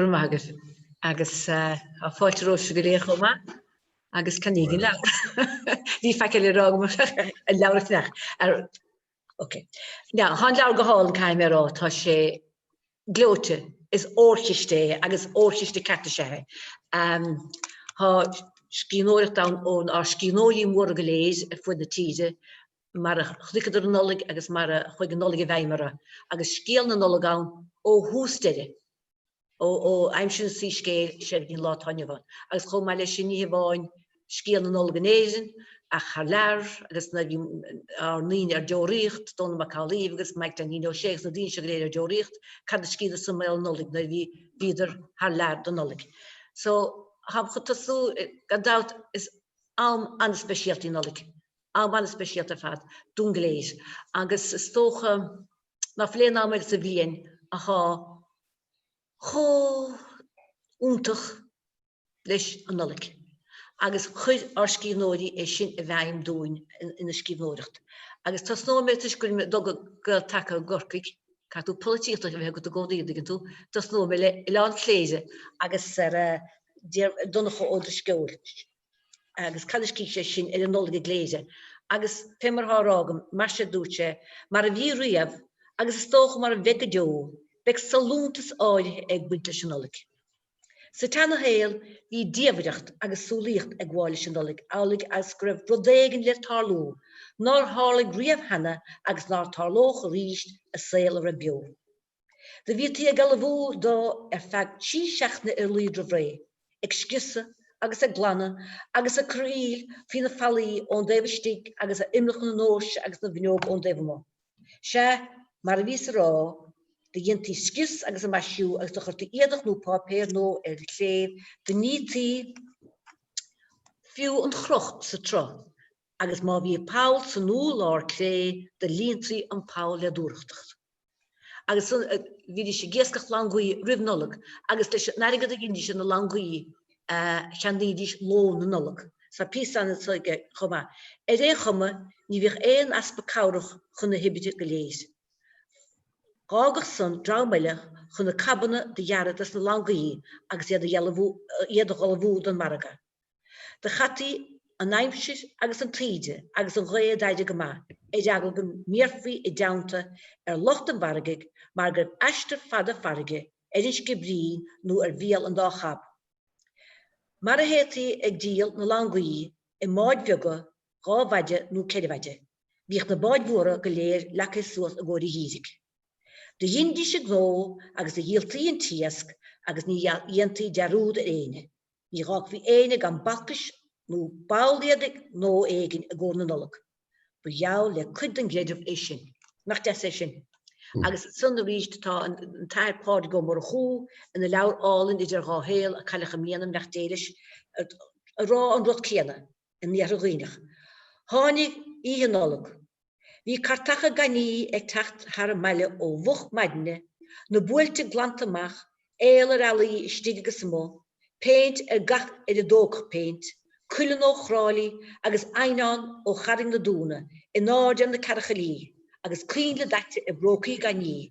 Go raibh maith agat. Agus fáilte romhaibhse go léir chomh maith. Agus ceannaígí an leabhar. Níl faic eile le rá agam ach an leabhar a cheannach. Ok. Now, thá an leabhar go hálainn caithfidh mé a rá. Tá sé gleoite. Is órchiste é agus órchiste ceart is ea é. Thá scríbhneoireacht ann ón ár scríbhneoirí móra go léir ar fuaid na tíre mar a chonaiceadar an Nollaig agus mar a chuaigh an Nollaig i bhfeidhm orthu agus scéal na Nollag ann ó thús deireadh, ó aimsir an tsoiscéil is é go dtí an lá atá inniu ann. Agus chomh maith leis sin, ní hamháin scéal na Nollag in Éirinn ach thar lear agus nuair a bhí ár ndaoine ar deoraíocht, Dónall Mac Amhlaigh agus Maidhc Dainín Ó Sé agus na daoine seo go léir ar deoraíocht, cad a scríobhadar san fén Nollaig nuair a bhí, bhíodar thar lear don Nollaig. So, tháim chun tosú, gan dabht is am an-speisialta í an Nollaig am an-speisialta ar fad dúinn go léir agus is dócha ná fuil aon am eile sa bhliain athá chomh iontach leis an Nollaig agus chuir ár scríbhneoirí é sin i bhfeidhm dúinn ina scríbhneoireacht agus tosnóidh mé toisc gur do Gael Taca i gCorcaigh, caithfidh tú polaitíocht a bheith agat i gcónaí, an dtuigeann tú, tosnóidh mé le Oileán Chléire agus ar Donncha Ó Drisceoil. agus cad a scrígh sé sin ar an Nollaig i gCléire agus fé mar athá á rá agam, mar seo dúirt sé, mar a bhí riamh agus is dócha mar a bheidh go deo, beidh sollúntas áirithe ag baint leis an Nollaig. Sa tseana shaol bhí diamhaireacht agus súlaíocht ag gabháil leis an Nollaig amhlaidh agus go raibh rud éigin le tarlú nár tharlaigh riamh cheana agus ná tarlódh arís i saol a raibh beo. Do bhítí ag ullmhú dó ar feadh trí seachtaine ar a laghad roimh ré, ag scriosadh agus ag glanadh agus ag cur aoil faoi na fallaí ón dtaobh istigh agus ar imeallacha na ndóirse agus na bhfuinneog ón dtaobh amuigh. Sea, mar a bhíos ag rá, do dhéantaí scrios agus a maisiú agus do chuirtí éadach nó páipéar nua ar an chléibh, do nítí, fiú an chroch sa tsruth agus má bhí poll san urlár cré do líontaí an poll le dúthrachtacht. agus bhídís ag iascach langaí roimh Nollaig agus leis an airgead a dheinídís ar na langaí cheannaídís lón na Nollag. Tá píosa ann aige chomh maith. Ar aon chuma, ní bhíodh aon easpa cabhrach chun na hoibre go léir. D'fhágadh san dream eile chun na cabanna do ghearradh des na langaí agus iad a dh'ullmhú, iad a dh'ullmhú don mhargadh. Do chaití an aimsir agus an taoide agus an ghaoth a d'fhaire go maith ar eagla go mbéarfaí i dteannta ar lucht an mhargaidh mar gurbh aistear fada farraige ar an Sciobairín nó ar Bhéal an Dá Chab mar a théití ag díol na langaí i mbáid bheaga dhá mhaide nó ceithre mhaide. Bhíodh na báid mhóra go léir leagtha suas i gcomhair an gheimhridh. Do dheinidís a ngnó agus do dhíoltaí an t-iasc agus ní dhéantaí dearúd ar éinne. Ní fhágfaí éinne gan balcais nó ball éadaigh nua éigin i gcomhair na Nollag. Ba gheall le cuid den gcreideamh é sin. Nach deas é sin? Agus ansan arís tá an tAthair Pádraig Ó Murchú ina leabhar álainn Idir Dhá Shaol, a cailleadh i mbliana, beannacht Dé leis a rá an rud céanna in iarthar Dhuibhneach. Tháinig Oíche Nollag. Bhí cartacha gainimhe ag teacht thar an mbaile ó mhoch maidne, na buailte glanta amach, aol ar fhallaí istigh agus amuigh, péint ar gach ar a dtógfadh péint, cuileann ó Thrá Lí agus eidhneán ó Charraig na Dúna in airde ar na cearchaillí, agus coinnle daite i bprócaí gainimhe.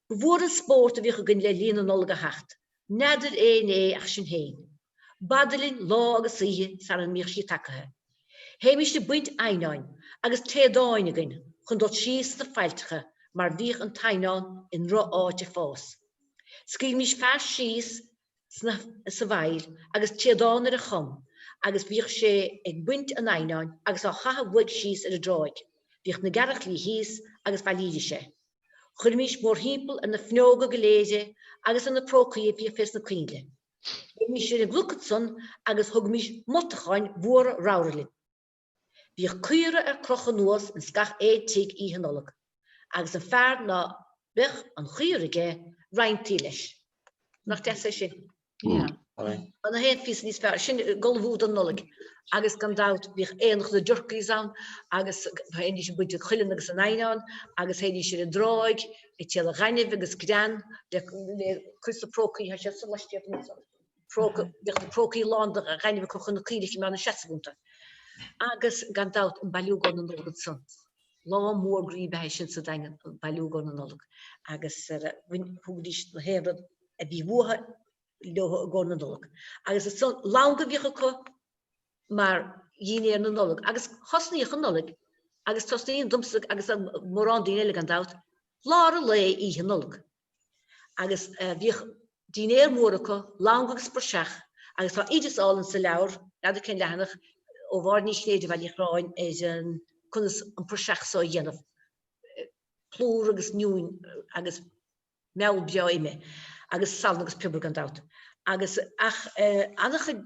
Ba mhór an spórt a bhíodh againn le linn na Nollag a theacht. N'fheadair éinne é ach sinn féin. B'fhada linn lá agus oíche sara mbíodh sí tacaithe. Théimís ag baint eidhneáin agus téadáin againn chun dul síos sna faillteacha mar bhíodh an t-eidhneán i ndrocháit ag fás. Scaoilimís fear síos sa bhfaill agus téadán ar a chom agus bhíodh sé ag baint an eidhneáin agus á chaitheamh uaidh síos ar an dtráigh. Bhíodh na gearrchailí thíos agus bhailídís é. Chuirimís mórthimpeall ar na fuinneoga go léir é agus ar na prócaí a bhíodh fé sna coinnle. Théimís ar an gcnoc ansan agus thugaimis moltacháin mhóra ramhra linn. Bhíodh caora ar crochadh anuas ins gach aon tigh Oíche Nollag agus an fear ná beadh an chaora aige roinntaí leis. Nach deas é sin? An t-aon phíosa níos fearr, sin ag ullmhú don Nollaig agus gan dabht bhíodh aonach na dturkeys ann agus théidís ag baint an chuilinn agus an eidhneáin agus théidís ar an dtráigh ag triall ar ghainimh agus grean le cur sna prócaí, tá siad sa laistíocht anseo. Bhíodh na prócaí lán de ghainimh acu chun na coinnle a choimeád ina seasamh iontu. Agus gan dabht an bailiúchán na Nollag ansan. Lá mór groí ab ea é sin sa Daingean, an bailiúchán na Nollag. Agus thugaidís na haon rud a bhí uathu leo i gcomhair na Nollag. Agus ansan langa a bhíodh acu mar dhínéar na Nollag. Agus thosnaíodh an Nollaig agus tosnaíonn domsa agus mórán daoine eile gan dabht lár an lae oíche Nollag. agus bhíodh dínnéar mór acu, langa agus praiseach agus tá oideas álainn sa leabhar, n'fheadar cén leathanach, ó Mháirín Ní Chinnéide Bhaile Uí Chorráin ar an conas an praiseach so a dhéanamh, plúr agus inniúin agus meall breá ime agus salann agus piobar gan dabht. Agus ach ana-chuid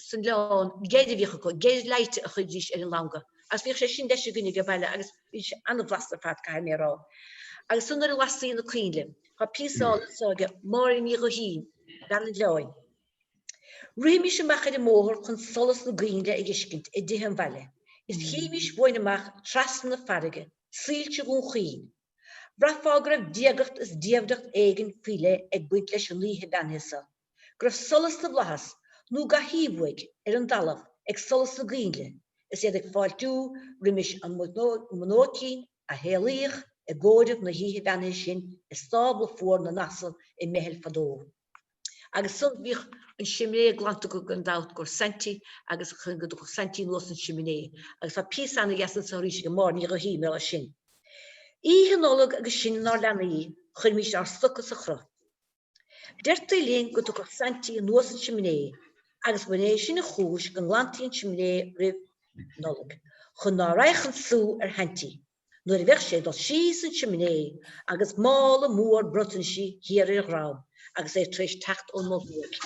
san oileán geir a bhíodh acu, geir leáite a chuiridís ar an langa agus bhíodh sé sin leis againne age baile agus. Bhí sé an-bhlasta ar fad, caithfidh mé a rá. Agus sin nuair a lastaí na coinnle. Tá píosa álainn anso age Máire Ní Ghuithín, Bean an Oileáin. Ritheimís amach ar an mbóthar chun solas na gcoinnle a fheiscint i dtithe an bhaile, is chífimís uainn amach trasna na farraige, soilse Dhún Chaoin. Bhraithfeá go raibh diagacht is diamhracht éigin faoi leith ag baint leis an oíche bheannaithe seo. go raibh solas na bhflaitheas nó ga thaobh uaidh ar an dtalamh ag solas na gcoinnle is iad ag fáiltiú roimis an mbunóicín a shaolaíodh i gcomhaireamh na hoíche bheannaithe sin i stábla fuar na n-asal i mBeithil fadó. Agus san bhíodh an simné glanta gan dabht i gcomhair Saintí agus thiocfadh Saintí anuas an simné agus tá píosa ana dheas anso arís age Máire Ní Ghuithín mar gheall air sin. Oíche Nollag agus sinn inár leanaí chuirimís ár stoca sa chroch. Deirtí linn go dtiocfadh Saintí anuas an simné agus gur é sin an chúis go nglantaí an simné roimh Nollaig chun ná raghadh an sú ar Shaintí nuair a bheadh sé ag dul síos an simné agus mála mór bronntanaisí thiar ar a dhrom agus é tar éis teacht ón Mol Thuaidh.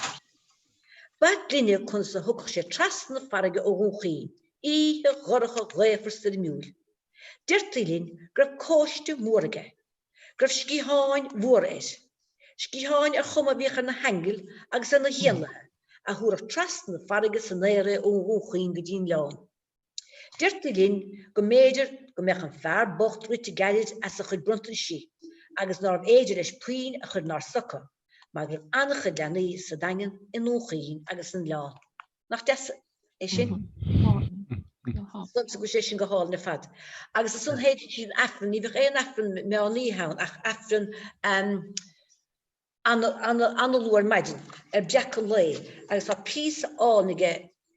B'ait linne conas a thiocfadh sé trasna na farraige ó Dhún Chaoin, oíche dhorcha ghaofar stoirmiúil. Deirtí linn go raibh cóiste mór aige. go raibh sciatháin mhóra air, sciatháin ar chuma a bhíodh ar na haingil agus ar na héanlaithe, a thabharfadh trasna na farraige san aer é ó Dhún Chaoin go dtí'n Oileán. Deirtí linn go mb'fhéidir go mbeadh an fear bocht rite gairid as a chuid bronntanaisí agus nárbh fhéidir leis puinn a chur inár stoca mar go raibh an-chuid leanaí sa Daingean, i nDún Chaoin agus san Oileán. Nach deas é sin? Insíonn sí é sin go hálainn ar fad. Agus ansan théidís ar an aifreann, ní bhíodh aon aifreann meán oíche ann ach aifreann ana-luath ar maidin, ar breacadh an lae. Agus tá píosa álainn age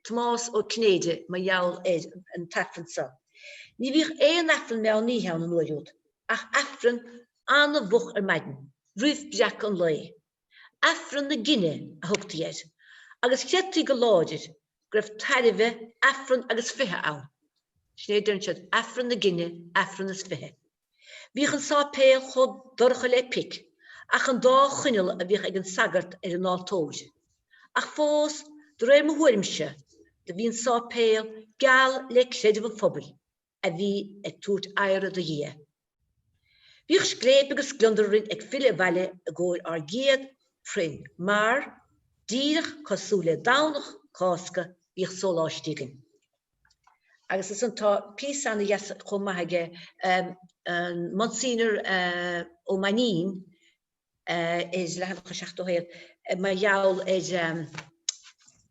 Tomás Ó Cinnéide mar gheall ar an t-aifreann seo. Ní bhíodh aon aifreann meán oíche ann an uair úd ach aifreann an-mhoch ar maidin, roimh breacadh an lae. Aifreann na Gine a thugtaí air agus chreidtí go láidir go raibh tairbhe Aifreann agus Fiche ann. Sin é a deireann siad, Aifreann na Gine, Aifreann is Fiche. Bhíodh an sáipéal chomh dorcha le pic ach an dá choinneal a bhíodh ag an sagart ar an altóir. Ach fós, de réir mo thuairimse, do bhí an sáipéal geal le creideamh an phobail. a bhí ag tabhairt adhradh do Dhia. Bhíodh scléip agus gliondar orainn ag filleadh abhaile i gcomhair ár gcéad proinn mar, díreach cosúil le Domhnach Cásca, bhíodh sóláistí againn. Agus is an tá píosa ana dheas chomh maith aige an Monsignor Ó Mainín, is leathanach 71, mar gheall ar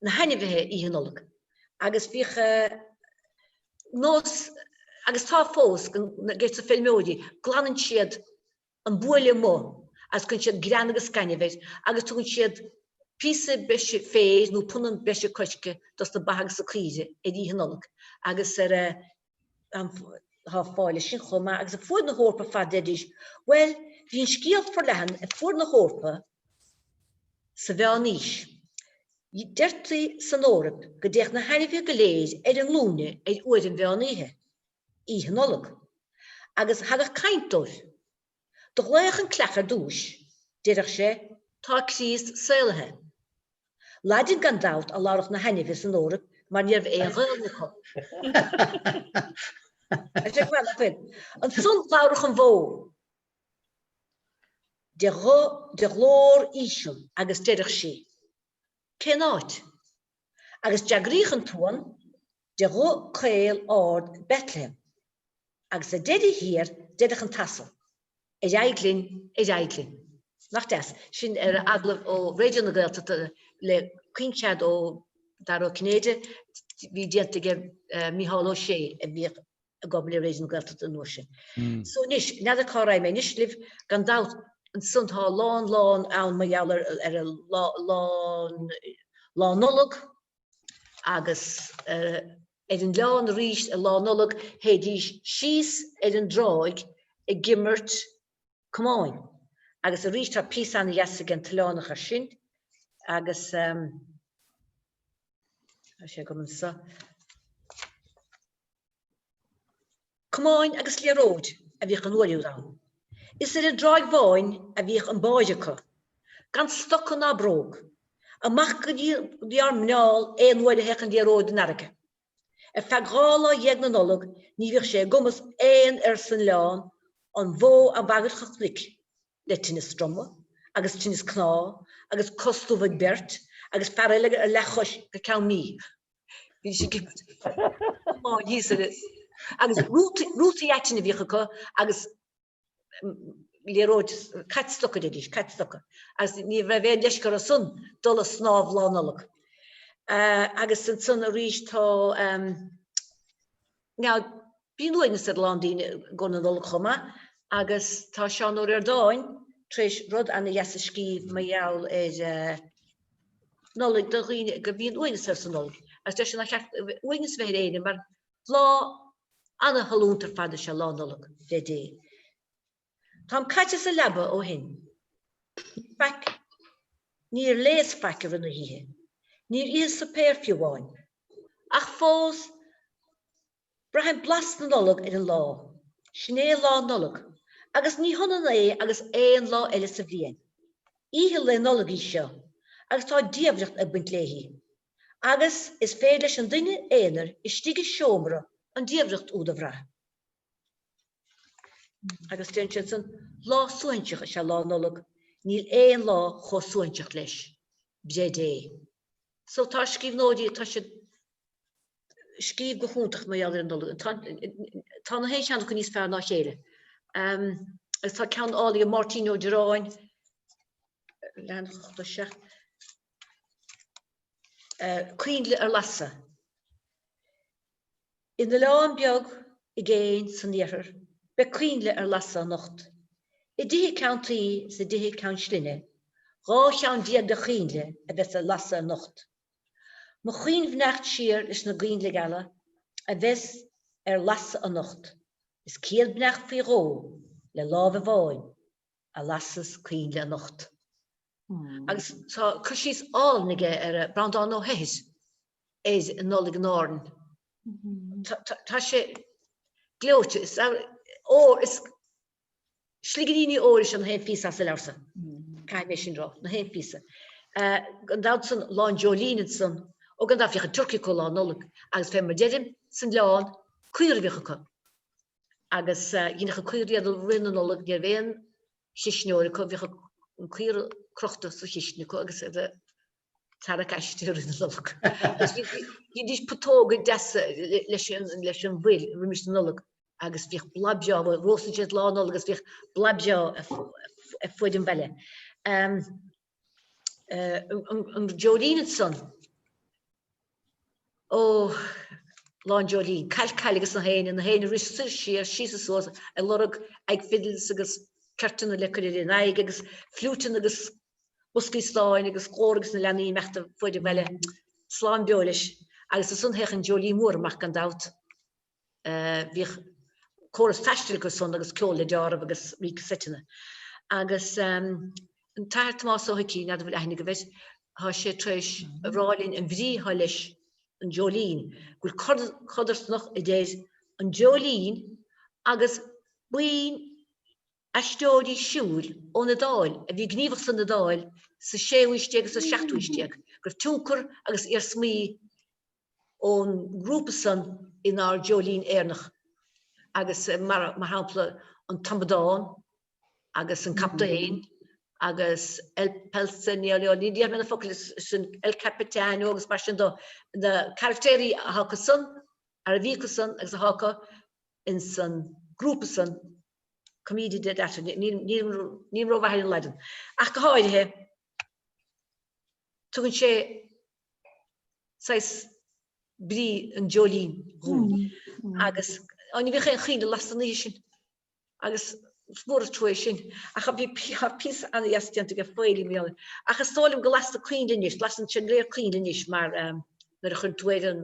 na hainmhithe Oíche Nollag agus bhíodh nós agus tá fós aiges na feirmeoirí glanann siad an buaile amuigh agus cuireann siad grean agus gainimh air agus tugann siad píosa breise féir nó punann breise coirce dos na ba agus na caoire ar Oíche Nollag agus ar Tá fáil air sin chomh maith agus ar fuaid na hEorpa ar fad, deir sé. Bhuel, bhí an scéal forleathan ar fuaid na hEorpa sa Mheán-Aois. Deirtí san Eoraip go dtéadh na hainmhithe go léir ar a nglúine ar uair an mheán oíche, Oíche Nollag, agus thagadh caint dóibh. Do ghlaodh an coileach ar dtúis, deireadh sé. Tá Críost saolaithe. Laidin gan dabht a labhradh na hainmhithe san Eoraip mar ní raibh aon Ghaelainn acu. Ansan labhradh an bhó de ghlór íseal agus deireadh sí, Cén áit? agus d'fhreagraíodh an t-uan de ghuth caol ard Bethlehem agus sa deireadh thiar deireadh an t-asal, Ar aghaidh linn, ar aghaidh linn. Nach deas? Sin ar agallamh ó Raidió na Gaeltachta le caoinchead ó Dara Ó Cinnéide a bhí déanta aige ar Mícheál Ó Sé a bhíodh ag obair le Raidió na Gaeltachta an uair sin. So anois, n'fheadar cá raibh mé. Anois libh, gan dabht, ansan tá a lán lán ann mar gheall ar ar a lá lá lá Nollag agus ar an oileán aríst ar lá Nollag théidís síos ar an dtráigh ag imirt camáin agus aríst tá píosa ana dheas ag an tOileánach ar sin agus tá sé agam anso. Camáin agus liathróid a bhíodh an uair úd ann. Is ar an dTráigh Bháin a bhíodh an báire acu. Gan stoca ná bróg. Amach go dtí ár muineál aon uair a théadh an liathróid don fharraige. Ar feadh dhá lá dhéag na Nollag ní bhíodh sé i gcumas aon fhear san oileán an bhó a bhagairt chun cnoic le tinneas droma agus tinneas cnámh agus cos dubh ag beirt agus fear eile ar leath-chois go ceann míosa. Bhí siad ag iomáint thíos agus agus rútaí rútaí aitinn a bhíodh acu agus liathróid caid stoca a deiridís caid stoca agus ní raibh aon leisce orthu san dul ag snámh Lá Nollag. Agus ansan arís tá Now, bíonn uaigneas ar a lán daoine i gcomhair na Nollag chomh maith agus tá Seán Ó Ríordáin tar éis rud an-deas a scríobh mar gheall ar Nollaig do dhaoine go mbíonn uaigneas orthu sa Nollaig agus deir sé nár cheart uaigneas a bheith ar éinne mar lá an-shollúnta ar fad is ea Lá Nollag, deir sé. Táim caite sa leaba ó shin. Níl faic. Níor léas faic i rith na hoíche. Níor itheas suipéar fiú amháin. Ach fós, braithim blas na Nollag ar an lá. Sin é Lá Nollag. Agus ní hionann é agus aon lá eile sa bhliain. Oíche Lae Nollag í seo, agus tá diamhracht ag baint léi. Agus is féidir leis an duine aonair istigh i seomra an diamhracht úd a bhrath. Agus deir sé ansan, lá suaithinseach is ea Lá Nollag, níl aon lá chomh suaithinseach leis, b'fhéidir. So tá scríbhneoirí, tá siad ag scríobh go hiontach mar gheall ar an Nollaig. Tá, tá na haon cheann acu níos fearr ná chéile. Um, agus tá ceann álainn ag Máirtín Ó Direáin, lean do se. Uh, Coinnle ar Lasadh. In oileán beag i gcéin san iarthar beidh coinnle ar lasadh anocht. I dtithe ceann tuí is i dtithe ceann slinne dhá cheann déag de choinnle a bheas ar lasadh anocht. Mo chaoinbheannacht siar leis na coinnle geala a bheas ar lasadh anocht is céad beannacht faoi dhó le láimh amháin. a lasfas coinnle anocht agus tá cur síos álainn aige Breandán Ó hEithir ar an Nollaig in Árainn. Tá sé gleoite. Is ór, is sligríní óir is ea na haon phíosa sa leabhar san. Caithfidh mé sin rá, na haon phíosa. Gan dabht ansan Lá an Dreoilín ansan, ó gan dabht bhíodh an turcaí acu Lá Nollag agus fé mar deirim, san oileán, caora a bhíodh acu. agus dhéanfadh an caora iad rith na Nollag ní raibh aon chuisneoir acu bhíodh an caora crochta sa chistin acu agus iad a' tarrac aisti rith na Nollag agus dheinidís putóga deasa leis an leis an bhfuil roimis na Nollag agus bhíodh boladh breá bhuel róstfaidís í lá Nollag agus bhíodh boladh breá ar fuaid an bhaile. an Dreoilín ansan. Ó, Lá an Dreoilín, Caill Caill agus na héin, na héinne ag rith soir siar, síos is suas, ag lorg aghaidh fidils agus ceirteanna le cur ar a n-aghaidh agus fliúiteanna agus boscaí stáin agus glór agus na leanaí ag imeacht ar fuaid an bhaile. Slán beo leis. Agus ansan théadh an Dreoilín Mór amach gan dabht. bhíodh córas taistil acu san agus ceol le deáramh agus rí casaiteanna. Agus an tAthair Tomás Ó hIcí, n'fheadar bhfuil aithne agaibh air, tá sé tar éis a rá linn an bhrí atá leis an Dreoilín, go bhfuil codarsnacht idir an Dreoilín agus buíon aisteoirí siúil ón Iodáil a bhí gníomhach san Iodáil sa séú haois déag agus sa seachtú haois déag, go raibh tionchar agus iarsmaí ón ngrúpa san inár nDreoilín Éireannach agus mar shampla an t-amadán agus an captaen agus el Pulcinello ní dhéarfaidh mé na focail sin el capitano agus mar sin de na caractéirí atá acu san ar a bhí acu san agus atá acu ins an grúpa san commedia dell'arte nílim ró-mhaith ar an Laidin ach go háirithe tugann sé saghas brí an Dreoilín dhúinn agus ní bhíodh aon choinnle lasta an oíche sin agus is mór an trua é sin ach bhí píosa ana-dheas déanta aige Faeilí mhíl ach is dóigh liom go lastar coinnle anois, lasann sinn go léir coinnle anois mar nuair a chuireann tú ar an.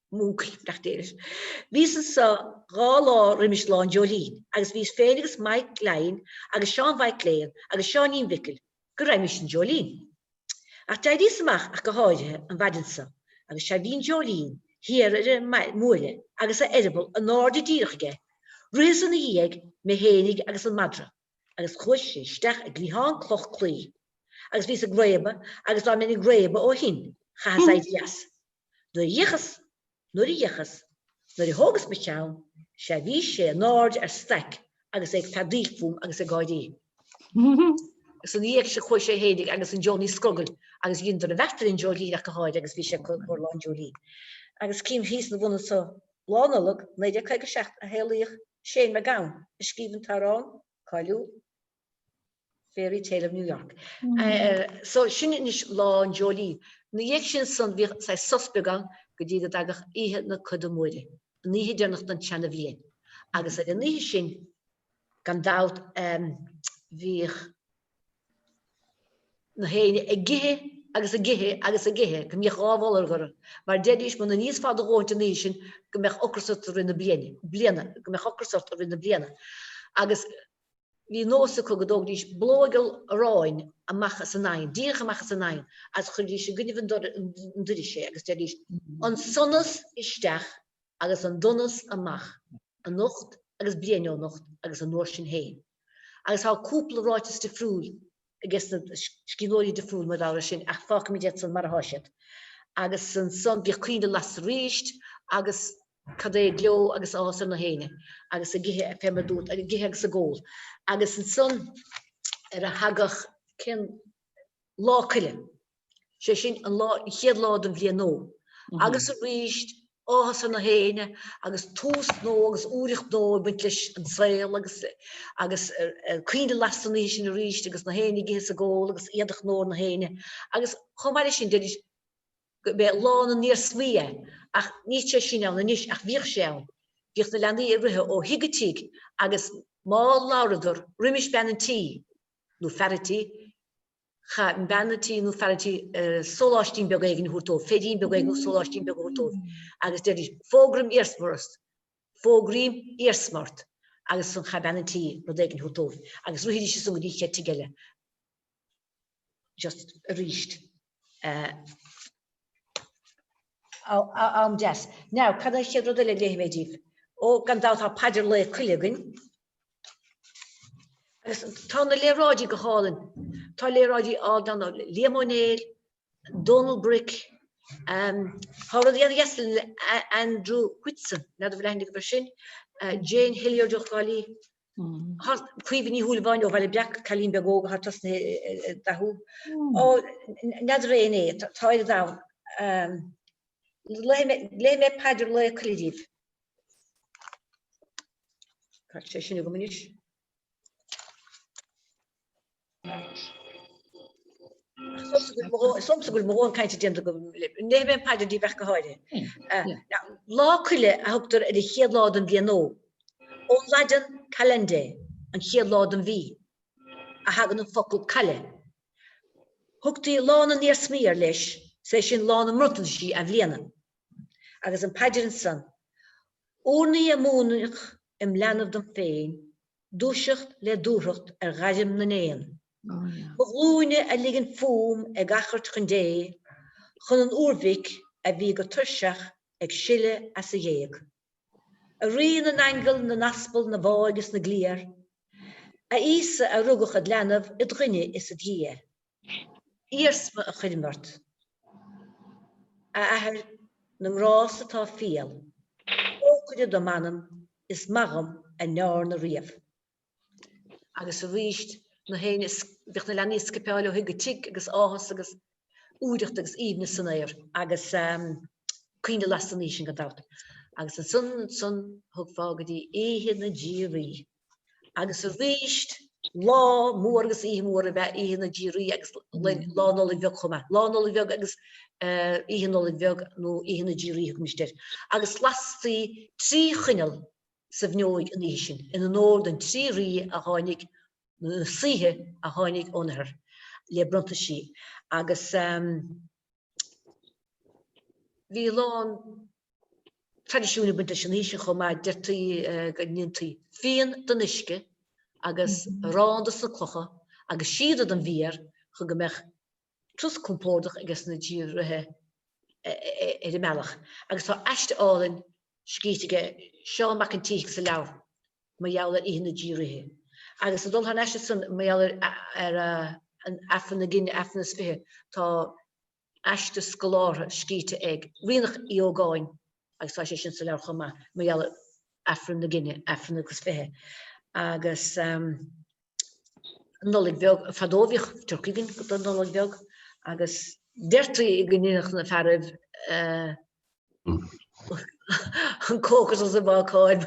Moochy, nach déanais? Bhíos anseo dhá lá roimis Lá an Dreoilín agus bhíos féin agus Maidhc Léan agus Seán Mhaidhc Léan agus Seáinín Mhicil go raghaimís san Dreoilín. Ach d'éiríos amach ach go háirithe an mhaidin so agus sea bhí an Dreoilín thiar ar an mbuaile agus a eireaball anáirde díreach aige, ritheas ina dhiaidh, mé fhéinig agus an madra, agus chuaigh sé isteach i gcliathán cloch claí agus bhíos ag réabadh agus dá mbeinn ag réabadh ó shin, chaitheas éirí as. Nuair a d'fhéachas, nuair a d'fhéachas, nuair a thógas mo cheann, sea bhí sé in airde ar staic agus é ag feadaíl fúm agus ag gáirí. Agus ina dhiaidh sin chuaigh sé fhéinig agus an Jónaí Scrogaill agus dheineadar an bheart ar an dreoilín ach go háirithe agus bhí sé acu i gcomhair Lá an Dreoilín. Agus cím thíos ina bhun anseo. Lá Nollag, 1957 a shaolaíodh Shane MacGowan, a scríobh an t-amhrán cáiliúil. Fairytale of New York. So, sin anois Lá an Dreoilín. Ina dhiaidh sin ansan bhíodh saghas sos beag ann go dtí go dtagadh Oíche na Coda Móire, an oíche deireanach den tseana bhliain. Agus ar an oíche sin, gan dabht, bhíodh nach éinne ag ithe agus ag ithe agus ag ithe go mbíodh dhá bholg orthu, mar deiridís muna n-íosfá do dhóthaint an oíche sin go mbeadh ocras ort i rith na bliana, go mbeadh ocras ort i rith na bliana. Agus. Bhí nós acu go dtógfaidís bollóg gheal aráin amach as an oigheann, díreach amach as an oigheann, agus chuirfidís i gcoinnibh an doiris é agus déarfaidís, An sonas isteach agus an donas amach anocht agus bliain ó anocht agus an uair sin féin. Agus tá cúpla ráiteas difriúil agus na scríbhneoirí difriúil, mar bharr ar sin, ach fágfaimid iad san mar atá siad. Agus ansan bhíodh coinnle lasta arís agus cad é gleo agus áthas ar na héinne agus ag ithe fé mar a dúirt, ag ithe agus ag ól. Agus ansan ar a thagadh, cén lá? Coille. sé sin an lá, an chéad lá den bhliain nua agus arís áthas ar na héinne agus tús nua agus úireacht nua ag baint leis an saol agus agus coinnle lasta an oíche sin arís agus na héinne ag ithe is ag ól agus éadach nua ar na héinne agus chomh maith leis sin deiridís gurb é lá na n-iarsmaí é ach níl sé sin ann anois ach bhíodh sé ann bhíodh na leanaí ag rith ó thigh go tigh agus má labhradar roimis bean an tí nó fear an tí Chaith bean an tí nó fear an tí sóláistín beag éigin a thabhairt dóibh, féirín beag éigin nó sóláistín beag a thabhairt dóibh agus deiridís, fógraím iarsma ort, fógraím iarsma ort agus ansan chaith bean an tí rud éigin a thabhairt dóibh agus rithidís ansan go dtí an chéad tigh eile just arís. Am deas. Now, cad é an chéad rud eile a léifidh mé díbh? Ó, gan dabht tá paidir Lae Coille againn. Agus tá na léaráidí go hálainn. Tá léaráidí ann ó Liam Ó Néill, Dónal Bric, tá rudaí ana dheas le Andrew Whitson, n'fheadar an bhfuil aithne agaibh air sin, Jane Hilliard ó Thrá Lí, Caoimhe Ní Shúilleabháin ó Bhaile Breac, cailín beag óg atá tosnaithe ag dathú. Ó, n'fheadar é an é, tá oiread ann. Léifidh mé paidir Lae Coille díbh. Cá bhfuil sé sin agam anois. Is dóigh liomsa go bhfuil mo dhóthain cainte déanta agam. Léifidh mé an paidir díbh ach go háirithe. Lá Coille a thugtar ar an chéad lá den bhliain nua, ón Laidin calendae, an chéad lá den mhí, a thagann an focal caille. Thugtaí lá na n-iarsmaí air leis, is é sin lá na mbronntaisí athbhliana. agus an paidir ansan, urnaí a múineadh im leanbh dom féin, dúiseacht le dúthracht ar ghairm na n-éan, mo ghlúine a ligean fúm ag achairt chun Dé chun an úrmhic a bhí go tuirseach ag sileadh as a ghéag. A Rí na nAingeal, na nAspal, na bhFáidh is na gCliar, A Íosa a rugadh id' leanbh, id' dhuine is id' Dhia, Iarsma a chuirim ort, A Athair na nGrás atá fial, Trócaire dom anam is maith dhom a ndeárna riamh. Agus arís, na héin is, bhíodh na leanaí ag scipeáil ó thigh go tigh agus áthas agus úireacht agus aoibhneas san aer agus coinnle lasta an oíche sin gan dabht. Agus ansan, ansan, thiocfá go dtí Oíche na dTrí Rí. Agus arís, lá mór agus oíche mhór ab ea Oíche na dTrí Rí agus Lá Nollag Bheag chomh maith. Lá Nollag Bheag agus Oíche Nollag Bheag nó Oíche na dTrí Rí thugaimist air. Agus lastaí trí choinneal. sa bhfuinneoig an oíche sin in onóir don trí rí a tháinig, nó na saoithe a tháinig ón oirthear le bronntanaisí agus bhí a lán traidisiúin ag baint leis an oíche sin chomh maith. Deirtí go ndéantaí fíon den uisce agus arán dos na clocha agus síoda den bhféar chun go mbeadh. turas compordach aige sna Trí Rithe ar an mbealach agus tá aiste álainn scríte aige Seán Mac an tSíthigh sa leabhar Mar Gheall ar Oíche na dTrí Rithe agus ag dul thar an aiste san mar gheall ar an Aifreann na Gine, Aifreann is Fiche, tá aiste scolártha scríte ag Ríonach Uí Ógáin agus tá sé sin sa leabhar chomh maith Mar Gheall ar Aifreann na Gine, Aifreann agus Fiche agus. an Nollaig Bheag. Fadó bhíodh turcaí againn don Nollaig Bheag agus deirtí go ndéanfadh na fearaibh an cócaireacht is an bhácáil.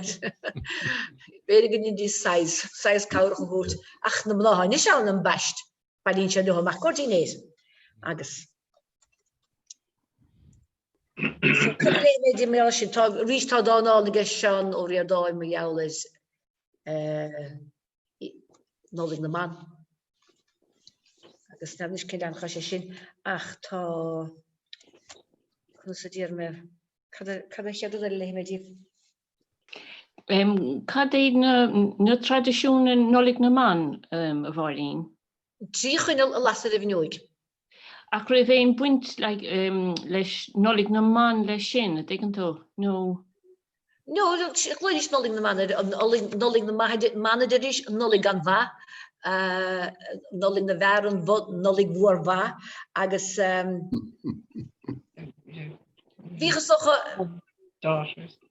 B'fhéidir go ndéanfaidís saghas, saghas cabhrach a thabhairt. Ach na mná anois ann ambaist, bailíonn siad leo amach i gcomhair dinnéir agus Tá arís tá dán álainn aige Seán Ó Ríordáin mar gheall ar Nollaig na mBan agus n'fheadar anois cén leathanach atá sé sin ach tá, conas a déarfaidh mé, cad a, cad an chéad rud eile a léifidh mé díbh? Cad iad na traidisiúin i Nollaig na mBan, a Mháirín? Trí choinneal a lasadh ar an bhfuinneoig. Ach raibh aon baint leis Nollaig na mBan leis sin, an dtuigeann tú? Nó. No, glaoidís Nollaig na mBan air, Nollaig na mBan a deiridís, Nollaig gan mhaith, Nollaig na bhFear, an Nollaig mhór mhaith agus bhíothas.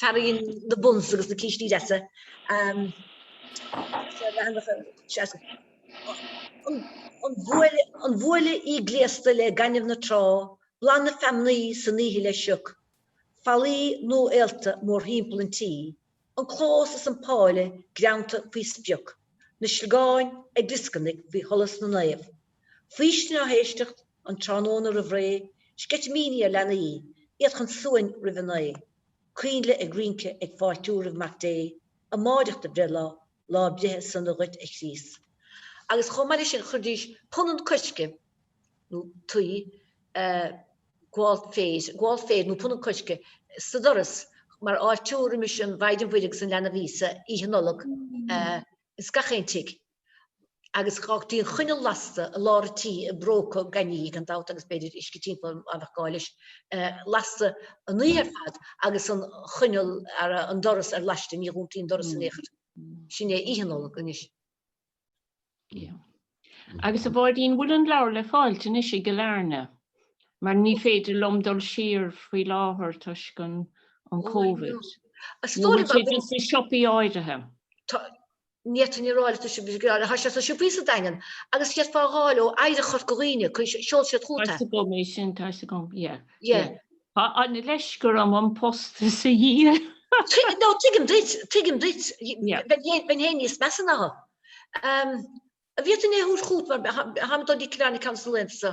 Tarraingíonn na buns agus na cístí deasa an bhuaile í gléasta le gaineamh na trá, boladh na feamnaí san oíche le sioc, fallaí nua-aolta mórthimpeall an tí, an clós is an páille greanta faoi sprioc, na sliogáin ag glioscarnaigh faoi sholas na naomh. Faoistin á héisteacht, an tráthnóna roimh ré, sceitimíní ar leanaí, iad chun suain roimh a naoi, coinnle ag rince, ag fáiltiú roimh Mac Dé, amáireach do bhreithlá, lá breithe sona dhuit a Chríost. Agus chomh maith leis sin chuiridís punann coirce nó tuí, gabháil féir, gabháil féir nó punann coirce sa doras mar fháiltiú roimis an Mhaighdean Mhuire agus an leanbh Íosa, Oíche Nollag, ins gach aon tigh. agus d'fhágtaí an choinneal lasta i lár an tí i bpróca gainí gan dabht agus b'fhéidir uisce timpeall mar bheadh gá leis lasta an oíche ar fad agus an choinneal ar an doras ar laiste ní dhúntaí an doras in aon chor. Sin é Oíche Nollag anois. Ia. Agus a Mháirín an bhfuil an leabhar le fáilt anois i gCill Airne? Mar ní féidir liom dul siar faoi láthair toisc an Covid. Nó bhfuil sé just i siopaí áirithe? Ní fhéadfainn a rá leat, tá sé sna siopaí sa Daingean agus d'fhéadfá é a fháil ó Oidhreacht Chorca Dhuibhne, seolfaidh siad chugat é. Tá 'fhios agam é sin, tá 'fhios agam, yeah, Yeah. yeah. Tá an leisc orm an postas a dhíol. No, tuigim duit, tuigim duit. Yeah. Bheinn fhéin níos measa ná shin. An bhféadfainn é a thabhairt chugat mar táim ag dul go dtí Cill Airne ceann des na laethanta so?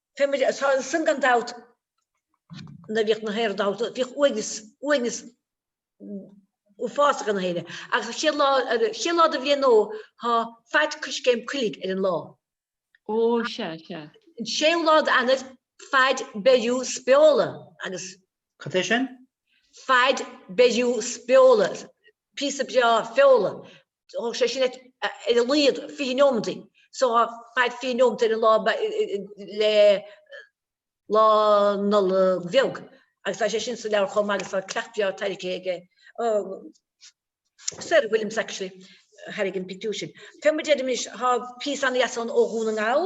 Tá muid as san gan dabht. Nuair a bhíodh na hÉireann ábalta, bhíodh uaigneas, uaigneas uafásach ina thaobh. Ach an chéad lá, an chéad lá de bhliain nua, tá faid coiscéim coiligh ar an lá. Ó, sea, sea. An séú lá d'Eanair, faid beiriú spóla agus. Cad é sin? Faid beiriú spóla, píosa breá feola. Thógfadh sé sin ar a laghad fiche nóiméad so tá fad fiche nóiméad ar an lá le Lá Nollag Bheag agus tá sé sin sa leabhar chomh maith agus tá coileach breá tarraingthe aige Sarah Williams actually a tharraing an pictiúr sin. Fé mar a deir muid anois? Tá píosa an-deas ann ó Dhún na nGall.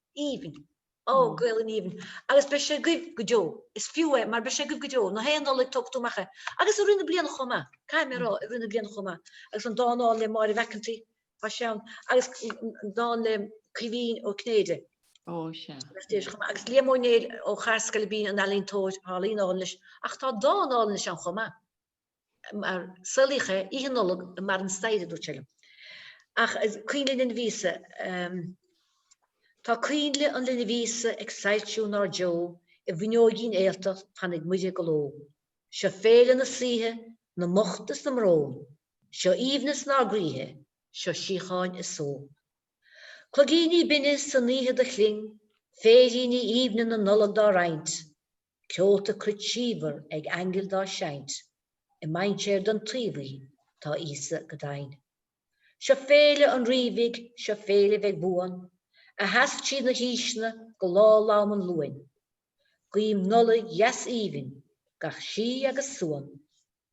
aoibhinn. Ó, Gaelainn aoibhinn. Agus beidh sé agaibh go deo. Is fiú é, mar beidh sé agaibh go deo. Gach aon Nollaig tógfaidh tú amach é. Agus i rith na bliana chomh maith. Caithfidh mé a rá, i rith na bliana chomh maith. Agus an dán álainn le Máire Mhac an tSaoi, tá sé ann. Agus an dán le Caoimhín Ó Cinnéide. Ó, sea. Agus Déise chomh maith. Agus Liam Ó Néill ó Charr-Scoil Bín, an ealaíontóir, tá ealaín álainn leis. Ach tá dán álainn leis ann chomh maith. Saolaíodh é Oíche Nollag i mBarr an Staighre, a dúirt sé liom. Ach Coinnle an Linbh Íosa, em. Tá Coinnle an Linbh Íosa ag soilsiú inár dtreo i bhfuinneoigín fhéilteach fanfaidh Muire go ló. Seo féile na saoithe, na mbocht is na mbrón, Seo aoibhneas inár gcroíthe, seo síocháin is só. Cloigíní binne san oíche do chling, Féiríní aoibhne na Nollag dá roinnt, Ceolta cruit símhar ag aingil dá seinnt, i mainséar den tuí bhuí tá Íosa go deimhin. Seo féile an rí bhig, seo féile bheidh buan, a sheas tríd na haoiseanna go lá lom an Luain. Guím Nollaig dheas aoibhinn gach síth agus suan.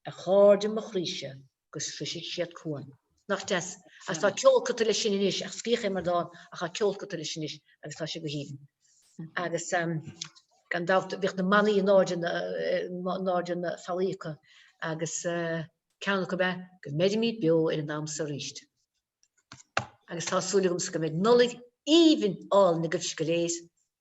Ar chairde mo chroíse, go sroisfidh siad cuan. Nach deas? Agus tá ceol curtha leis sin anois, ach scríobhadh é mar dán, ach tá ceol curtha leis anois agus tá sé go haoibhinn. Agus gan dabht bhíodh na manaí in airde na, in airde ar na fallaí acu agus ceann acu ab ea Go mbeirimid beo ar an am so arís. Agus tá súil agamsa go mbeidh Nollaig aoibhinn álainn agaibhse go léir.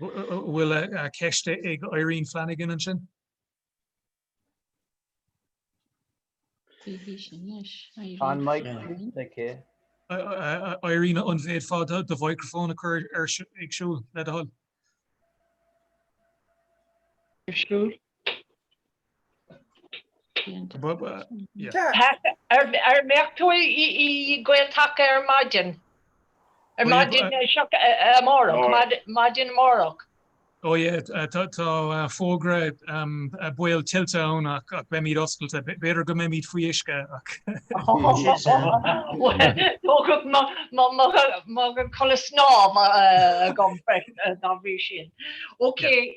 Bhfuil ceist ag Irene Flanagan ansin? Tá an mic sínte aici. Irene, an bhféadfá do mhicreafón a chur ar siúl, le do thoil? An mbeidh tú i nGael-Taca ar maidin? Maidin amárach? Ó yeah, tá fógra baol tuilte ann ach beimid oscailte. B'fhéidir go mbeimid faoi uisce ach sin sin. Tógfaidh mé mo chulaith snámha agam freisin dá bhrí sin. Okay.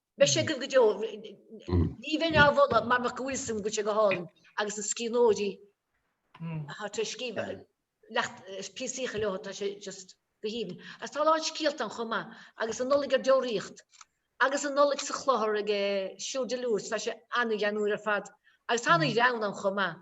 Beidh sé agaibh go deo. Ní bheinn á mholadh mara mbeadh go bhfuil a fhios agam go bhfuil sé go hálainn agus na scríbhneoirí atá tar éis scríobh leacht píosaíocha leo tá sé just go haoibhinn. Agus tá a lán scéalta ann chomh maith agus an Nollaig ar deoraíocht agus an Nollaig sa chlochar ag Siúr de Lourdes tá sé an-ghreannmhar ar fad agus tá an-ghreann ann chomh maith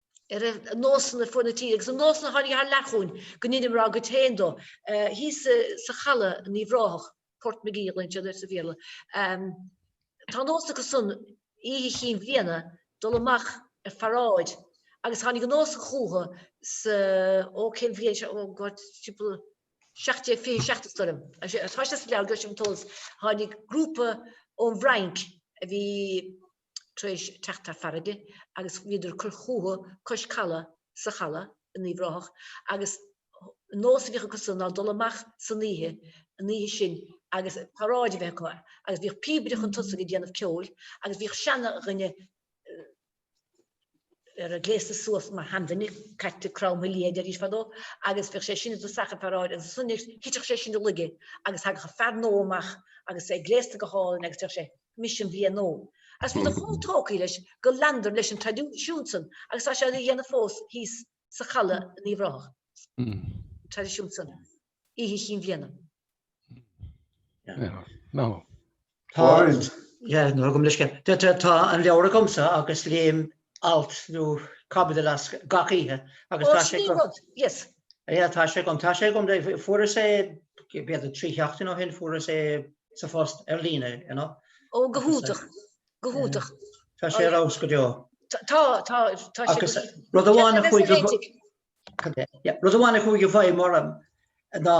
ar na nósanna fuaid na tíre agus na nósanna a tháinig thar lear chugainn go ndeineamar ár gcuid féin dóibh. Thíos sa Chaladh in Uíbh Ráthach, Portmagee a ghlaonn siad air sa Bhéarla, tá nós acu san oíche chinn bhliana dul amach ar pharáid agus tháinig an nós chucu sa, ó cén bhliain seo, ó God, timpeall 1727 is dóigh liom, tá sé sa leabhar, gheobhaidh sibh an t-eolas, tháinig grúpa ón bhFrainc a bhí, tar éis teacht thar farraige agus bhíodar ag cur fúthu cois calaidh sa Chaladh in Uíbh Ráthach agus an nós a bhíodh acusan ná dul amach san oíche an oíche sin agus paráid a bheith acu agus bhíodh píobaire chun tosaigh ag déanamh ceoil agus bhíodh seanduine ar a gléasta suas mar sheanduine caite cromtha liath a deiridís fadó agus bhíodh sé sin i dtosach an pharáid agus ansan nuair a thiteadh sé sin i laige agus thagadh an fear nua amach agus é gléasta go hálainn agus deireadh sé Mise an bhliain nua. Agus bhíodar chomh tógtha leis go leanadar leis an traidisiún san agus tá sé á dhéanamh fós thíos sa Chaladh in Uíbh Ráthach. An traidisiún san. Oíche Chinn Bhliana. Tá an leabhar agamsa agus léim alt nó caibidil as gach oíche agus tá sé agam. Ó, sin é an rud, yes. Yeah, tá sé agam, tá sé agam, fuaireas é, b'fhéidir trí sheachtain ó shin, fuaireas é sa phost ar líne, you know. Ó, go hiontach, go hiontach. Tá sé ar fheabhas go deo. Tá, tá, tá sé. Agus rud amháin a chuaigh go. Rud amháin a chuaigh i bhfeidhm orm ná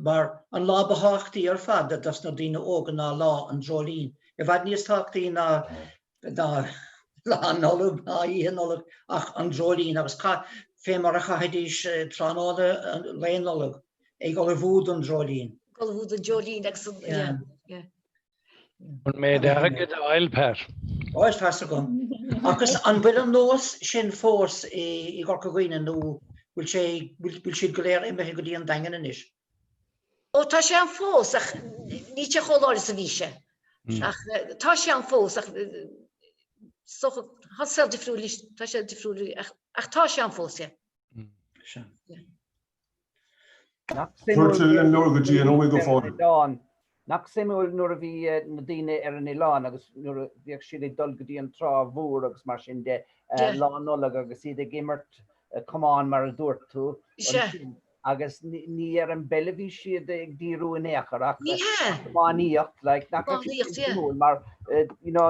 mar an lá ba thábhachtaí ar fad dos na daoine óga ná Lá an Dreoilín. I bhfad níos tábhachtaí ná Lá Nollag ná Oíche Nollag ach an Dreoilín agus fé mar a chaithidís tráthnóna Lae Nollag ag ullmhú don Dreoilín. Ag ullmhú don Dreoilín agus an, yeah, yeah. An méid airgid a fháil, Pat? Ó, is fearr agam. Agus an bhfuil an nós sin fós i gCorca Dhuibhne nó bhfuil sé, bhfuil siad go léir imithe go dtí an Daingean anois? Ó, tá sé ann fós ach níl sé chomh láidir is a bhí sé. Ach tá sé ann fós ach tá saol difriúil anois, tá sé difriúil ach tá sé ann fós, yeah. Nach suimiúil Tugtar an leabhar go dtí an uaigh go fóill. Oileán. Nach suimiúil nuair a bhí na daoine ar an oileán agus nuair a bhíodh siad ag dul go dtí an trá mhór agus mar sin de lá Nollag agus iad ag imirt camáin mar a dúirt tú ansin agus ní ar an bpeil a bhí siad ag díriú in aon chor ach ar an iománaíocht like nach raibh sé suimiúil mar you know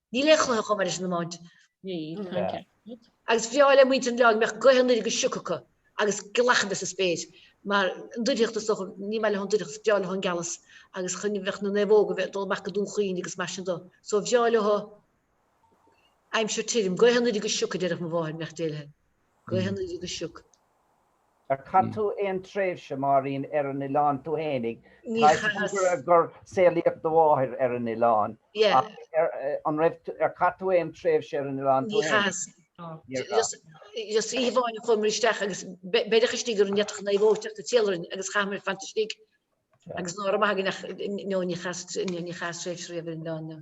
Níl aon chluiche chomh maith leis an iomáint. Agus bhreá le muintir an oileáin go mbeadh gaoth anoir agus sioc acu agus gealach sa spéir. Mar an doircheacht is dócha, níor mhaith leo an doircheacht, is breá leo an gealas agus chun bheadh na naomhóga bheith ag dul amach go Dún Chaoin agus mar sin de. So bhreá leo aimsir tirim, gaoth anoir agus sioc a déarfadh mo mháthair, mbeadh d'fhéilithe. Gaoth anoir agus sioc. Ar chaith tú aon tréimhse, Máirín, ar an oileán tú fhéinig? Ní chaitheas. Tuigim gur saolaíodh do mháthair ar an oileán ach an raibh tú, ar chaith tú aon tréimhse ar an oileán tú fhéinig? Ní chaitheas. Níor chaith. Just oíche amháin a chuamar isteach agus beireadh istigh orainn, ní fhéadfadh naomhóg teacht dár n-éileamh agus chaitheamar fanacht istigh agus ná raibh maith againn ach, no, ní chaitheas, ní chaitheas tréimhse riamh ar an oileán, no.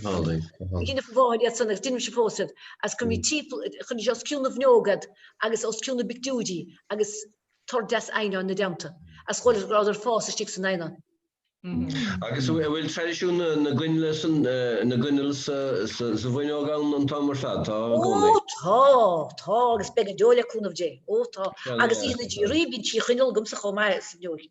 Dheineadh mo mháthair iad san agus deinimse fós iad agus cuirim timpeall, cuirimse os cionn na bhfuinneog iad agus os cionn na bpictiúirí agus tor deas eidhneáin ina dteannta agus shamhlófá go rabhadar ag fás istigh san eidhneán. Agus an bhfuil traidisiún na gcoinnle san, na gcoinneal sa, sa bhfuinneog ann an t-am ar fad? Tá i gcónaí. Ó tá, tá agus beidh go deo le cúnamh Dé. Ó tá. Agus Oíche na dTrí Ríthe bíonn trí choinneal agamsa chomh maith sa bhfuinneoig.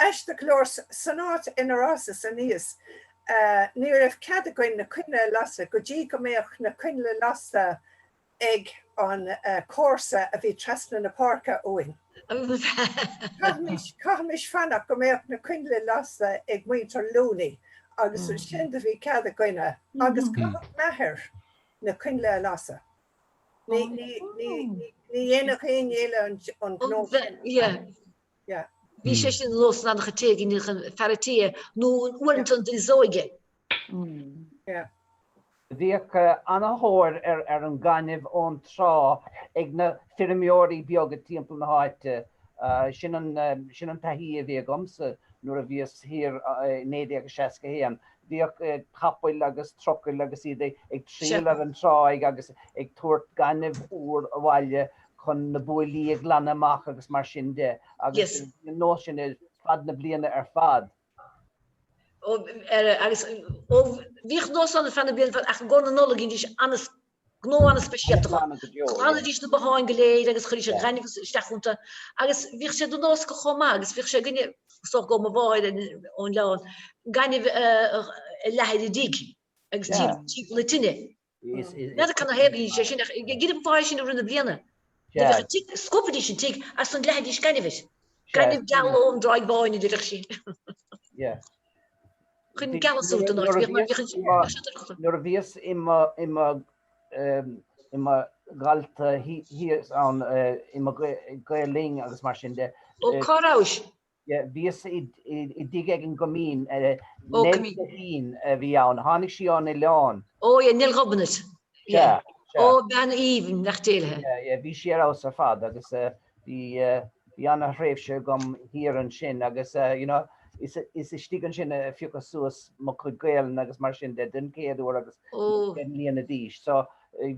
Aisteach go leor san áit inar fhásas aníos. Ní raibh cead againn na coinnle a lasadh go dtí go mbeadh na coinnle lasta ag an comharsa a bhí trasna na páirce uainn. Chaithimis fanacht go mbeadh na coinnle lasta ag muintir Looney agus ansin do bhí cead againne agus chaitheadh m'athair na coinnle a lasadh. Ní dhéanfadh éinne eile an gnó sin. Bhí sé sin nós i ngach aon tigh i ndiaidh fear an tí nó uaireanta an duine is óige. Bhíodh ana thóir ar ar an ngainimh ón trá ag na feirmeoirí beaga timpeall na háite. Sin an sin an taithí a bhí agamsa nuair a bhíos thiar i 1961. Bhíodh capaill agus trucaill agus iad ag triall ar an tráigh agus ag tabhairt gainimh úr abhaile chun na buailí a ghlanadh amach agus mar sin de agus bhí an nós sin ar feadh na bliana ar fad. Agus bhíodh nós ann ar feadh na bliana ar fad ach i gcomhair na Nollag dheinidís ana-, gnó ana-speisialta dhó. Ghlanadís na botháin go léir agus chuiridís an gaineamh isteach iontu agus bhíodh sé de nós chomh maith agus bhíodh sé againne, is dócha go ó mo mháthair ón Oileán, gaineamh a leathadh ar an dtigh agus timpeall na tine. N'fheadar cad ina thaobh é sin ach giota an pháighe sin i rith na bliana. Scuabfaidís an tigh agus leathfaidís gainimh. Gainimh geal ón dTráigh Bháin a déarfadh sí. Chun gealadh suas don áit bhíodh muid ag. Nuair a bhíos i mo dhalta thíos ann i mo Ghael Linn agus mar sin de. Cá rabhais? yeah bhíos i dtigh ar an gCoimín, Nell Guithín a bhí ann, tháinig sí ón oileán. oh yeah Nell Ghobnait yeah oh bean aoibhinn beannacht Dé léi. yeah yeah bhí sí ar fheabhas ar fad agus bhí bhí ana thréimhse agam thiar ansin agus you know is is istigh ansin a phiocas suas mo chuid Gaelainne agus mar sin de den chéad uair agus oh deich mbliana d'aois so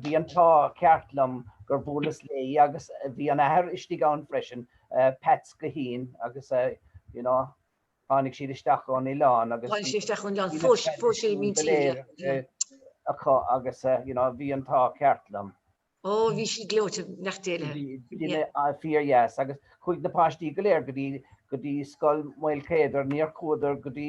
Bhí an t-ádh ceart liom gur bhuaileas léi agus bhí an athair istigh ann freisin, Peats Guithín agus you know tháinig siad isteach ón oileán agus bhí na traidisiúin go léir acu agus you know bhí an t-ádh ceart liom. Ó, bhí sí gleoite, beannacht Dé léi. Bhí duine fíor dheas agus chuaigh na páistí go léir go dtí go dtí Scoil Mhaolchéadair, níor chuadar go dtí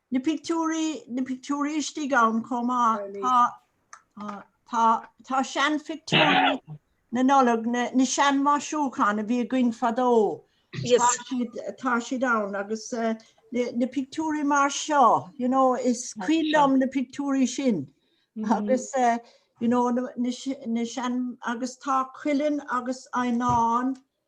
Na pictiúirí, na pictiúirí istigh ann chomh maith. Tá, tá, tá seanphictiúirí na Nollag, na, na seanmhaisiúcháin a bhí againn fadó. Tá Yes. siad, tá siad ann agus eh, na, na pictiúirí mar seo, you know, is cuimhin liom na pictiúirí sin. Mhm. Agus, eh, you know, na, na, se- na sean, agus tá cuileann agus eidhneán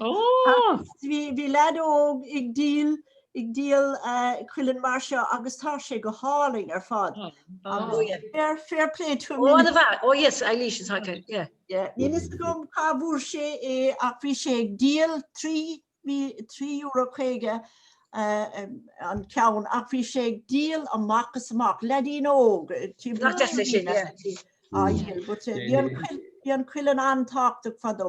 Bhí leaid óg ag díol ag díol cuileann mar seo agus tá sé go hálainn ar fad. Fair play to him. Ó bhí, ó yes, Eilís is hot, yeah. Níl fhios agam cá bhfuair sé é ach bhí sé ag díol €3.50 an ceann ach bhí sé ag díol amach is amach, leaidín óg. Nach deas é sin, yeah. Bhí an cuileann an-tábhachtach fadó.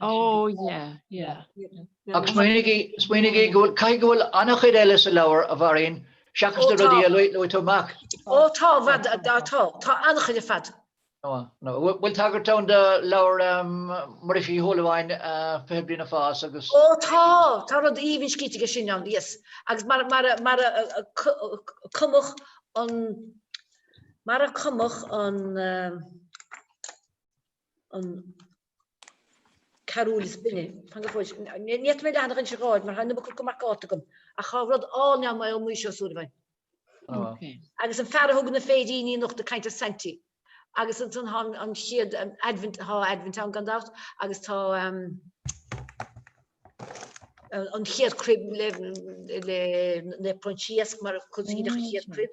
Oh yeah yeah Agus smaoiním go bhfuil, caithfidh go bhfuil an-chuid eile sa leabhar a Mháirín seachas na rudaí a luaigh tú, an mbeadh. Ó tá, tá, tá, tá an-chuid ar fad. Nó, nó, bhfuil tagairt ann do leabhar Mhuiris Uí Shúilleabháin, Fiche Bliain ag Fás agus. Ó tá, tá rud aoibhinn scríte aige sin ann, yes. Agus mar a, mar a, mar a cumadh an, mar a cumadh an, an carúil is binne. Fan go fóill. Ní fhéadfaidh mé leathanach anseo a fháil mar tá an iomarca curtha mar cárta agam, ach tá rud álainn ann ó Maidhc Sé Ó Súilleabháin. Agus an fear a thug na féiríní anocht ag caint ar Saintí. Agus ansan tá an chéad Aidbhint, tá Aidbhint ann gan dabht, agus tá an chéad cruib le Naomh Proinsias mar a thosaigh an chéad cruib.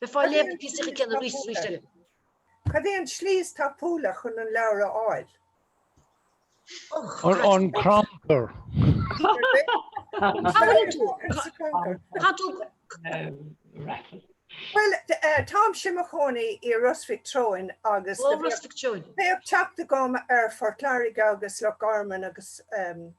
Cad é an tslí is tapúla? Cad é an tslí is tapúla chun an leabhar a fháil? An gceantar. Bhuel, táimse i mo chónaí i Ros Mhic Treoin agus bheadh teacht agam ar Phort Láirge agus Loch Garman agus.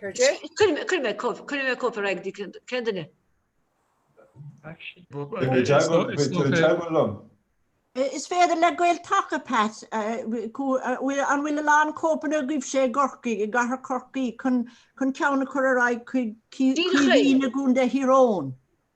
Cuirfidh mé cóip ar aghaidh di. Cén duine? Is féidir le Gael-Taca, a Pat, an bhfuil a lán cóipeanna agaibhse i gCorcaigh, i gcathair Chorcaí, chun ceann a chur ar aghaidh chuig Caoimhín i gContae Thír Eoghain?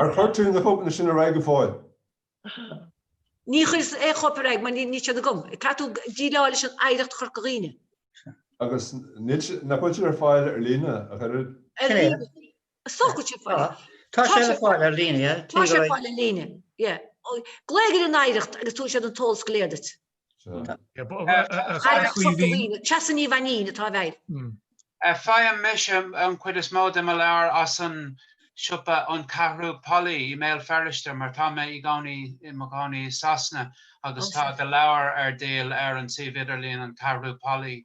Ar chuir tú na cóipeanna sin ar aghaidh go fóill? Ní chuireas aon chóip ar aghaidh mar níl siad agam. Caithfidh tú déileáil leis an Oidhreacht Chorca Dhuibhne. Agus nach bhfuil siad ar fáil ar líne ach oiread? Ar líne. An bhfuil sé ar fáil. Tá sé le fáil ar líne, yeah. Tá sé le fáil ar líne, yeah. Glaoigh ar an Oidhreacht agus tabharfaidh siad an t-eolas go léir duit. Treasa Ní Mhainín atá i bhfeighil. Faighim mise an chuid is mó de mo leabhair as an siopa An Ceathrú Póilí i mBéal Feirste mar tá mé i gcónaí i mo chónaí i Sasana agus tá do leabhar ar díol ar an suíomh idirlín An Ceathrú Póilí.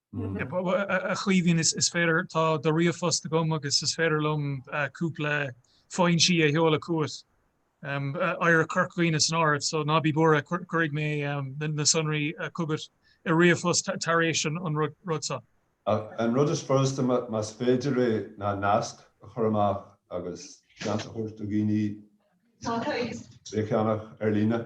A Chaoimhín, is féidir, tá do ríomhphost agam agus is féidir liom cúpla foinsí a sheoladh chugat, Éire Chorca Dhuibhne san áireamh, so ná bí buartha, cuirfidh mé na sonraí chugat i ríomhphost tar éis an rud so. An rud is furasta, más féidir é, ná nasc a chur amach agus seans a thabhairt do dhaoine bheith ag ceannach ar líne.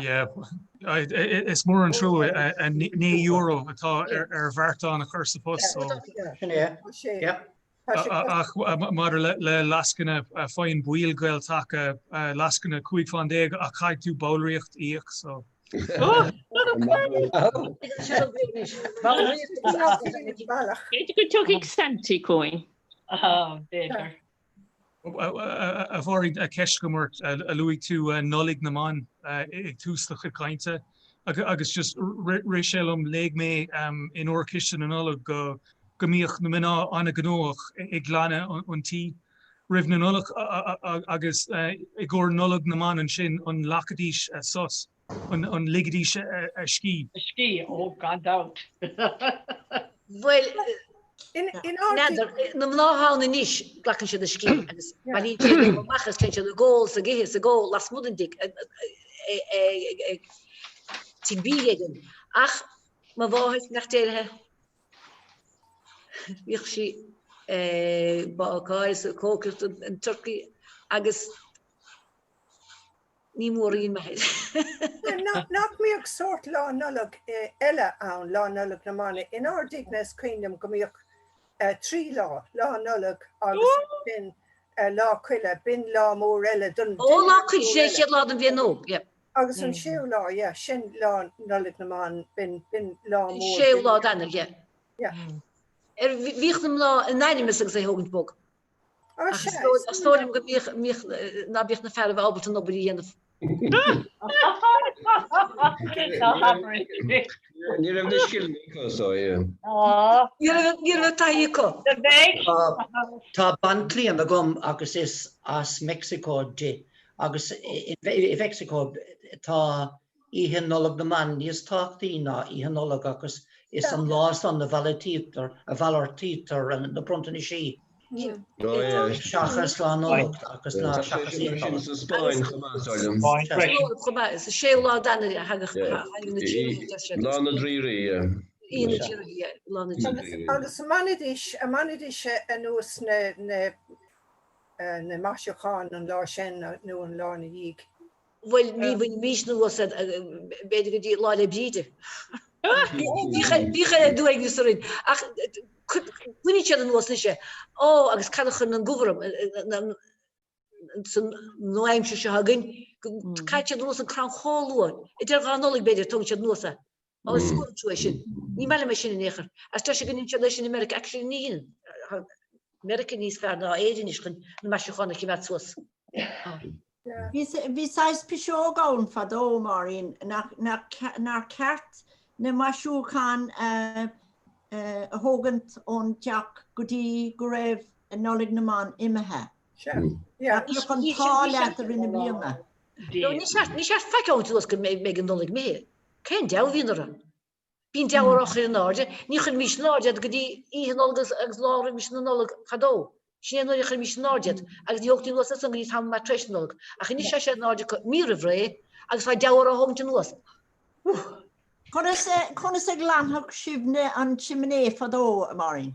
Yeah, is mór an trua €9 atá ar bheartán a chur sa phost so. Sin é, yeah. Ach maidir le lascaine faigheann baill Gael-Taca lascaine 15 faoin gcéad ach caithfidh tú ballraíocht a íoc so. B'fhéidir go dtiocfadh Santy chugainn. B'fhéidir. A Phádraig, ceist agam ort, luaigh tú Nollaig na mBan ag tús do chuid cainte agus just rith sé liom, léigh mé in Órchiste na Nollag go mbíodh na mná an-ghnóthach ag glanadh an tí roimh an Nollaig agus i gcomhair Nollaig na mBan ansin, an nglacfaidís sos? an ligidís a scíth? A scíth, ó, gan dabht. Bhuel, n'fheadar. Na mná ann anois, glacann siad a scíth agus bailíonn siad amach agus téann siad ag ól i gcéin, ag ól lasmuigh den dtigh, ag tigh bídh éigin. Ach mo mháthair, ní déarfainn, bhíodh sí ag bácáil, ag cócaireacht an, turcaí agus. Ní mórán. Nach mbíodh sórt Lá Nollag eile ann, Lá Nollag na mBan? In ár dtighne is cuimhin liom go mbíodh trí lá, Lá Nollag agus ansin Lá Coille, b'in lá mór eile dúinn. Ó Lá Coille, sé chéad lá den bhliain nua. Agus an séú lá, yeah, sin Lá Nollag na mBan, b'in lá mór. Séú lá d'Eanáir, yeah. Bhíodh na mná in ainm is agus é thógaint bog. Is dóigh liom go mbíodh, mbíodh, ná bíodh na fearaibh ábalta an obair a dhéanamh. Ní raibh na scileanna acu so yeah. Ní raibh, ní raibh taithí acu. Tá banchliamhain agam agus is as Meicsiceo di agus i Meicsiceo tá. Oíche Nollag na mBan níos tábhachtaí ná Oíche Nollag agus is an lá san a mhalartaítear, a mhalartaítear na bronntanaisí. Seachas Lá Nollag agus ná seachas Oíche Nollag. Sa Spáinn chomh maith, dar liom. Sa Spáinn chomh maith. Is 6 lá d'Eanáir a thagadh na Haghaidh na Tríonóide, deir siad. Is Lá na Draoirí, yeah. Oíche na Draoirí, yeah. Lá na Draoirí. Agus an mbainidís, an mbainidís anuas na, na, na maisiúcháin an lá sin nó an lá ina dhiaidh. Bhuel ní bhainimís anuas iad b'fhéidir go dtí Lá 'le Bríde. Bhíodh ard-uaigneas orainn ach caitheann siad anuas anois é. Ó agus cad a chuireann an deabhadh orthu san nua-aimsir seo againn go gcaitheann siad anuas an crann chomh luath, idir dhá Nollaig b'fhéidir tógann siad anuas é. Má scaoileann tú é sin, ní maith liom é sin in aon chor. Agus tá sé go ndeineann siad é sin i Meiriceá. Actually níl. Tá Meiriceá níos fearr ná Éire anois chun na maisiúcháin a choimeád suas. Bhí saghas piseog ann fadó, Máirín, nár cheart na maisiúcháin a thógaint ón teach go dtí go raibh Nollaig na mBan imithe. Nach mbeadh an t-ádh leat i rith na bliana. Ní ceart faic a thabhairt suas go mbeidh an Nollaig imithe. Cén deabhadh a bhíonn orthu? Bíonn deabhadh orthu á chur in airde. Ní chuirimís in airde iad go dtí Oíche Nollag agus lá roimis na Nollag fadó. Sin é an uair a chuirimís in airde iad agus ní thógtaí anuas as san go dtí tamall maith tar éis na Nollag. Ach anois tá siad in airde acu mí roimh ré agus tá deabhadh orthu á thógaint anuas. Conas a ghlanfadh sibhne an simné fadó, a Mháirín?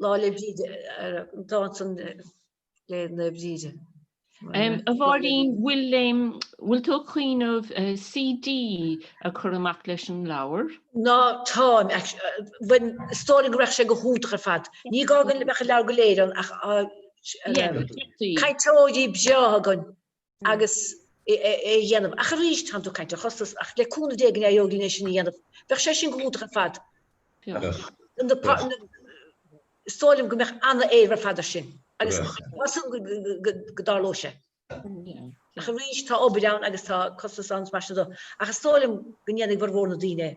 Lá le Bríde, dánta le Bríde. A Mháirín, bhfuil tú ag cuimhneamh CD a chur amach leis an leabhar? Ná, táim. Mar is dóigh go raibh sé go hiontach ar fad. Ní gá go mbeadh an leabhar go léir ann ach cainteoirí breátha againn agus é a dhéanamh. Ach arís, tá'n tú ag caint ar chostas, ach le cúnamh Dé go n-éireoidh linn é sin a dhéanamh. Bheadh sé sin go hiontach ar fad. Is dóigh liom go mbeadh ana-éileamh ar fad ar sin agus tá súil agam go dtarlóidh sé. Ach arís, tá obair ann agus tá costas ann is mar sin de. Ach is dóigh liom go ndéanfaidh formhór na daoine é.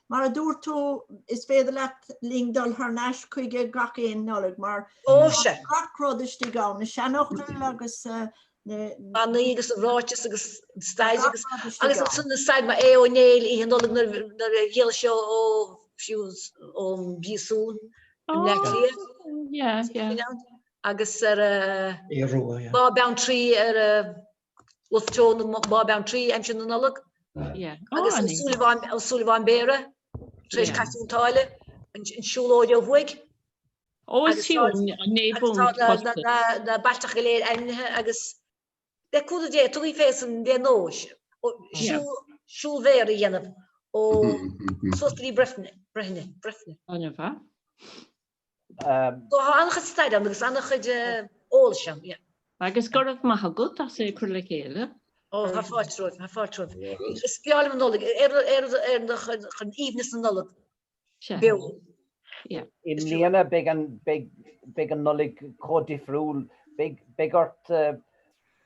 Mar a dúirt tú, is féidir leat linn dul thar n-ais chuige gach aon Nollaig mar tá gach rud istigh ann, na seanfhocail agus na manaí agus an ráiteas agus an stair agus agus ansin an stair mar Aodh Ó Néill oíche Nollag nuair a d'éalaigh sé ó fiú ón bpríosún i mBleá Cliath agus ar Bhá Bheanntraí ar Wolfe Tone i mBá Bheanntraí aimsir na Nollag agus an Súilleabháin an Súilleabháin Béara tar éis Cath Chionn tSáile an siúlóid ó thuaidh. Tá na bailteacha go léir ainmnithe agus le cúnamh Dé tugaidh fé san dé nóis siúl siúl Bhéara a dhéanamh ó suas go dtí Bréifne Bréifne Bréifne. An bhfuil. Tá an-chuid staire ann agus an-chuid eolais ann. Agus go raibh maith agat as é a chur le chéile. Ó, tá fáilte romhaibh, tá fáilte romhaibh. Is breá liom an Nollaig, ar chun aoibhneas na Nollag beo. I mbliana beidh an Nollaig chomh difriúil, beidh ort.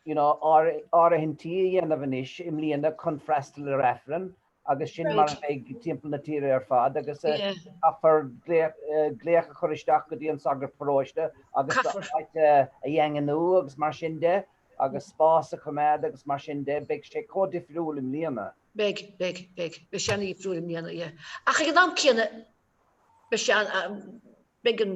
you know, ár, áirithintí a dhéanamh anois i mbliana chun freastal ar Aifreann agus sin mar a Right. bheidh timpeall na tíre ar fad agus eh, Yeah. caithfear glaoch, eh, glaoch a chur isteach go dtí an sagart paróiste agus do Caithfear. áit a, a dhaingniú agus mar sin de agus spás a choimeád agus mar sin de, beidh sé chomh difriúil i mbliana. Beidh, beidh, beidh, beidh sé an-difriúil i mbliana, yeah. Ach ag an am céanna beidh sé an- am, beidh an,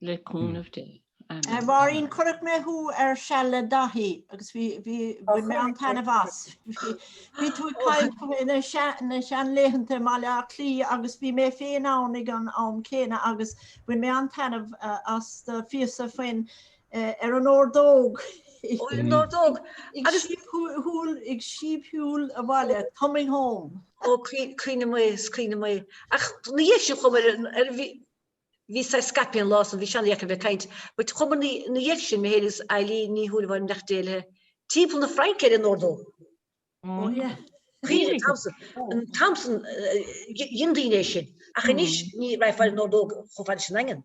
Le cúnamh Dé. Amen. Máirín, chonaic mé thú ar Seal le Dáithí agus bhí, bhí, bhain mé an-taitneamh as. Bhí, bhí tú ag caint go mé- na sea- na seanlaethanta i mBaile Átha Cliath agus bhí mé féin ann ag an am céanna agus bhain mé an-taitneamh as do phíosa faoin, eh, ar an ordóg. Ó, ar an ordóg. Ag Agus- síob shú- shúil, ag síobshiúl abhaile, coming home. Ó, cuimhne, cuimhne mhaith, is cuimhne mhaith. Ach ní hé sin chomh maith ar an, ar an bhí, Bhí saghas scaipthe an lá san, bhí sé ana-dheacair a bheith ag caint. But chuamar ina dhiaidh sin, mé fhéin is Eileen Ní Shúilleabháin nach d'éalaithe timpeall na Fraince ar an ordóg. Oh yeah. Cuimhnigh an t-am san. An t-am san, dhein daoine é sin. Ach anois ní raghfá ar an ordóg chomh fada leis an Daingean.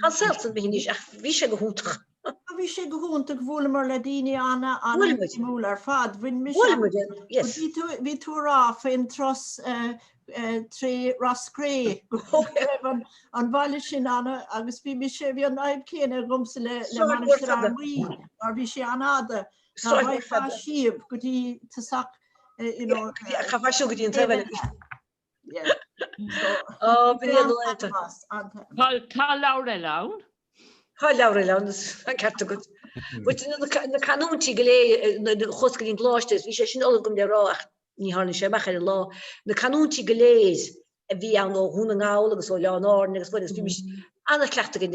An saol san imithe anois, ach bhí sé go hiontach. Á, bhí sé go hiontach, bhuaileamar le daoine ana, ana Bhuail muid. shuimiúla ar fad, bhain mise Bhuail muid, an-sult. yes. Bhí tú, bhí tú a rá faoin tros tré Ros Cré go raibh an, an bhaile sin ana, agus bhí mise, bhí an fhadhb céanna agamsa le, le Sráid mhór Mainistir fada. Fhear Maí, mar bhí sé an-fhada, ná Sráid mhór bhfaighfeá fada. síob go dtí tosach, you know, Chaithfeá siúl go dtí an taobh eile. Tá leabhar eile ann. Tá leabhar eile ann, an ceart agat. Na canúintí go léir chuas go dtí an gColáiste, bhí sé sin ullamh agam le rá ach ní tháinig sé amach ar an lá. Na canúintí go léir a bhí ann ó Dhún na nGall agus ó Oileáin Árann agus bhí mise an-chleachtadh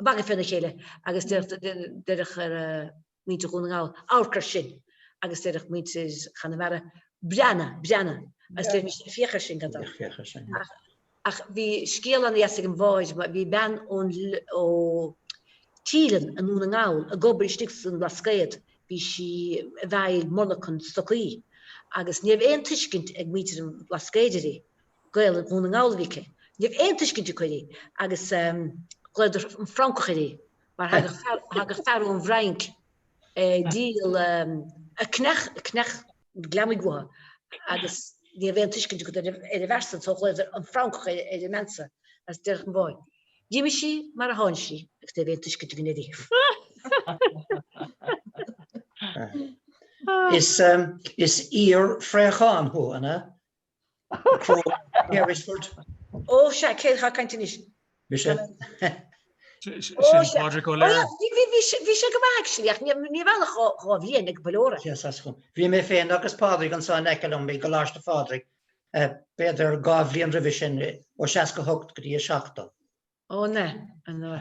magadh féna chéile agus deireadh muintir Dhún na nGall, amharc ar sin agus deireadh muintir Chonamara, breathnaigh, breathnaigh agus deirimis, féach ar sin, cad é sin? Ach bhí scéal ana dheas ag an bháid, bhí bean ón, ó Teileann i nDún na nGall ag obair istigh sa mBlascaod, bhí sí i bhfeighil monarchan stocaí agus ní raibh aon tuiscint ag muintir an Bhlascaoid uirthi Gaelainn Dhún na nGall a bhí aici. Ní raibh aon tuiscint acu uirthi agus ghlaodar an Francach uirthi mar thagadh fear ón bhFrainc ag díol, ag ceannach gliomaigh uathu agus ní raibh aon tuiscint acu ar an bhfear san so ghlaodar an Francach ar an mbean san is deireadh an bháid. D'imigh sí mar a tháinig sí agus ní raibh aon tuiscint againn uirthi. Is iar-phréachán thú, an ea? Crowe, near Richford. Ó, sea, cé atá ag caint anois. Mise. Sin Pádraig Ó Laoire. Bhí sé go maith actually ach ní raibh ach dhá bhliain ag Balora. Yes, as chun. Bhí mé féin agus Pádraig anseo in aice liom i gColáiste Phádraig, b'fhéidir dhá bhliain roimhe sin, ó 68 go dtí 70. Ó na, an na.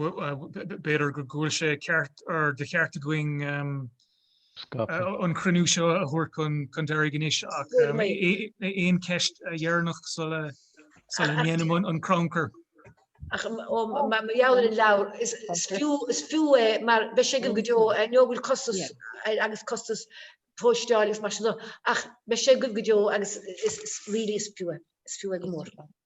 B'fhéidir go bhfuil sé ceart or de cheart againn an cruinniú seo a thabhairt chun deiridh anois ach aon cheist dheireanach sula ndéanaim an crannchur. Mar gheall ar an leabhar, is fiú é mar beidh sé againn go deo, I know bhfuil costas air agus costas postála agus mar sin de ach beidh sé agaibh go deo agus really is fiú é, is fiú é go mór.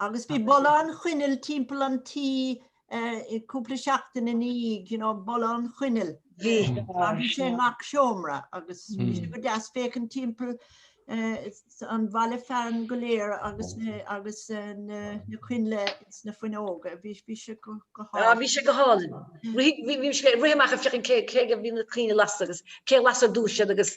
Agus bhí boladh an choinneal timpeall an tí cúpla seachtain ina dhiaidh, you know, boladh an choinneal. Bhí. Mar bhí sé i ngach seomra agus bhí sé go deas féachaint timpeall an bhaile fearainn go léir agus agus na coinnle ins na fuinneoga. Bhí bhí sé go go hálainn. Ah bhí sé go hálainn. Rith bhí bhí sé rith amach ag féachaint cé cé go bhí na coinnle lasta agus cé lasa a dúirt siad agus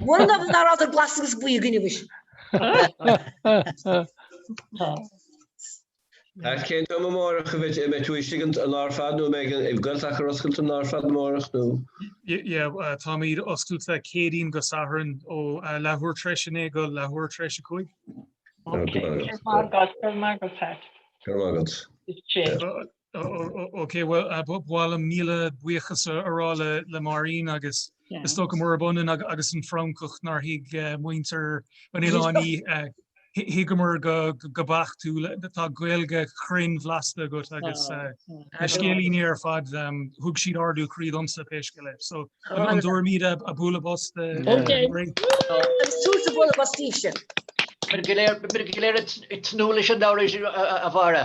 Mura ndóigh ná raibh tar glas agus buí againn anois. Cén t-am amárach a bheidh tú istigh an lá ar fad nó an mbeidh Gael-Taca ar oscailt an lá ar fad amárach nó? Yeah, táimid oscailte Céadaoin go Satharn ó leathuair tar éis a naoi go leathuair tar éis a cúig. Ok, go raibh maith agat, go raibh maith agat Pat. Go raibh maith agat. Is sé. Ok bhuel ba mhaith liom míle buíochas a rá le Máirín agus is dócha murab ionann agus an Francach nár thuig muintir an oileáin í thuigeamar go beacht tú tá Gaeilge chruinn bhlasta agat agus na scéilíní ar fad thug siad ardú croí domsa pé scéal é so an dtabharfaimid bualadh bos di. Súrtha bualadh bos daoibhse. Beimid go léir ag tnúth leis an leabhar a Mháire.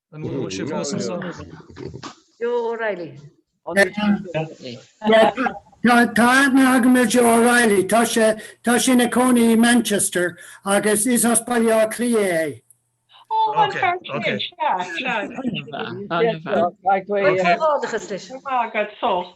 An bhfuil sé fós ansan? Joe O'Reilly. Tá aithne agam ar Joe O'Reilly. Tá sé tá sé ina chónaí i Manchester agus is as Baile Átha Cliath é. Tá agat sult.